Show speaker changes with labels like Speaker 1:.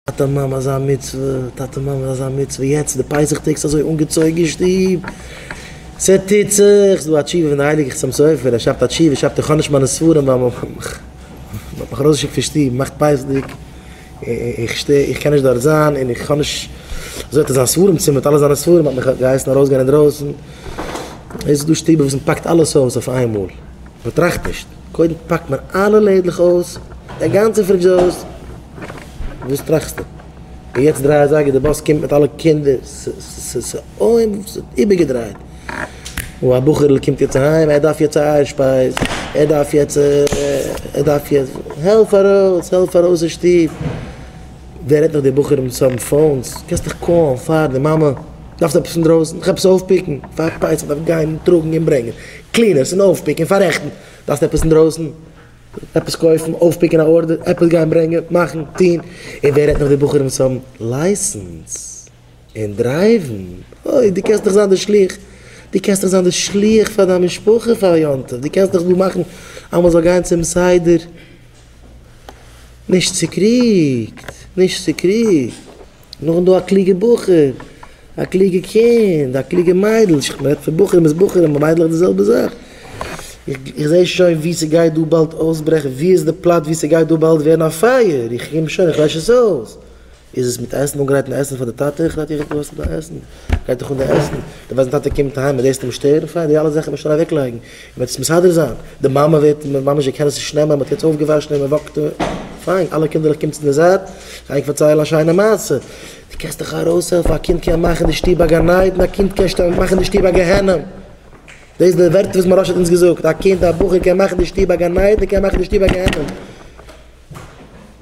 Speaker 1: טאטע מאמע אזא מצוה, טאטע מאמע אזא מצוה, יעצט די פסח טעג ס'איז אזוי אנגעצויגן אין שטוב, ס'טוט זיך, ס'דא א תשובה פון די הייליגע חתם סופר, ער שרייבט א תשובה, שרייבט איך האב נישט מיינע ספרים ווייל מ'האט מיך ארויסגעשיקט פון שטוב נאך פסח'דיג, איך שטער, איך קען נישט דארט זיין און איך האב נישט, אזוי האט ער זיין ספרים צימער מיט אלע זיינע ספרים, מ'האט מיך געהייסן ארויסגיין אינדרויסן, עס איז דא שטובער וואס מ'פאקט אלעס אויס אויף איינמאל, מ'טראכט נישט. קודם פאק מיר אלע לעדלעך אויס, די גאנצע פרידזש איז אויס, וואס טראכסטו? און יעצט דריי אזייגער די באס קומט מיט אלע קינדער, ס'איז איבערגעדרייט, און א בחור'ל קומט יעצט אהיים, ער דארף יעצט א אייער שפייז, ער דארף יעצט, ער דארף יעצט, העלף ארויס, העלף ארויס אין שטוב, ווער רעדט נאך די בחורים וואס האבן פאונס, קענסט דיך קאלן פאר די מאמע, דארפסט עפעס פון דרויסן, דיך עפעס אויפפיקן, פארפייסן, דארף גיין און טראגן און ברענגען. קלינערס און אויפפיקן און פאררעכטן, דארפסט עפעס אינדרויסן? עפעס קויפן, אויפפיקן א ארדער, עפעס גיין ברענגען, מאכן, טון, און ווער רעדט נאך די בחורים וואס האבן לייסענס און דרייוון, אוי, דו קענסט דאך זיין די שליח, דו קענסט דאך זיין די שליח פאר דיין משפחה פאר יום טוב, דו קענסט דאך דא מאכן אז מען זאל גיין צום סדר. נישט צוקריגט, נישט צוקריגט. נאכדעם דא א קלוגע בחור, א קלוגע קינד, א קלוגע מיידל, איך רעד פון בחורים איז בחורים און מיידלעך די זעלבע זאך, איך זעה שוין ווי ס'גייט דא באלד אויסברעכן, ווי איז די פלאץ ווי ס'גייט דא באלד ווערן א פייער, איך קום שוין איך לעש עס אויס. איז עס מיט עסן אנגרייטן עסן פאר די טאטע? איך רעדט יעצט דא ס'דא עסן, גייט דאך אן די עסן, די ווייסט די טאטע קומט אהיים מען דאס אים שטערן פאר די אלע זאכן מען שוין אוועק לייגן, מען וועט עס מסדר זיין, די מאמע וועט ממש די קען עס נישט נעמען, מען האט יעצט אויף געוואשן און מען וואקט פיין, אלע קינדערלעך קומטס אין די זייט, גיי איך פארציילן א שיינע מעשה, די קענסט דיך ארויס העלפן, א קינד קען מאכן די שטוב א גן עדן, א קינד קען מאכן די שטוב א גיהנום, דאס די ווערטער וואס מוהראש האט אונז געזאגט, א קינד א בחור קען מאכן די שטוב א גן עדן, קען מאכן די שטוב א גיהנום.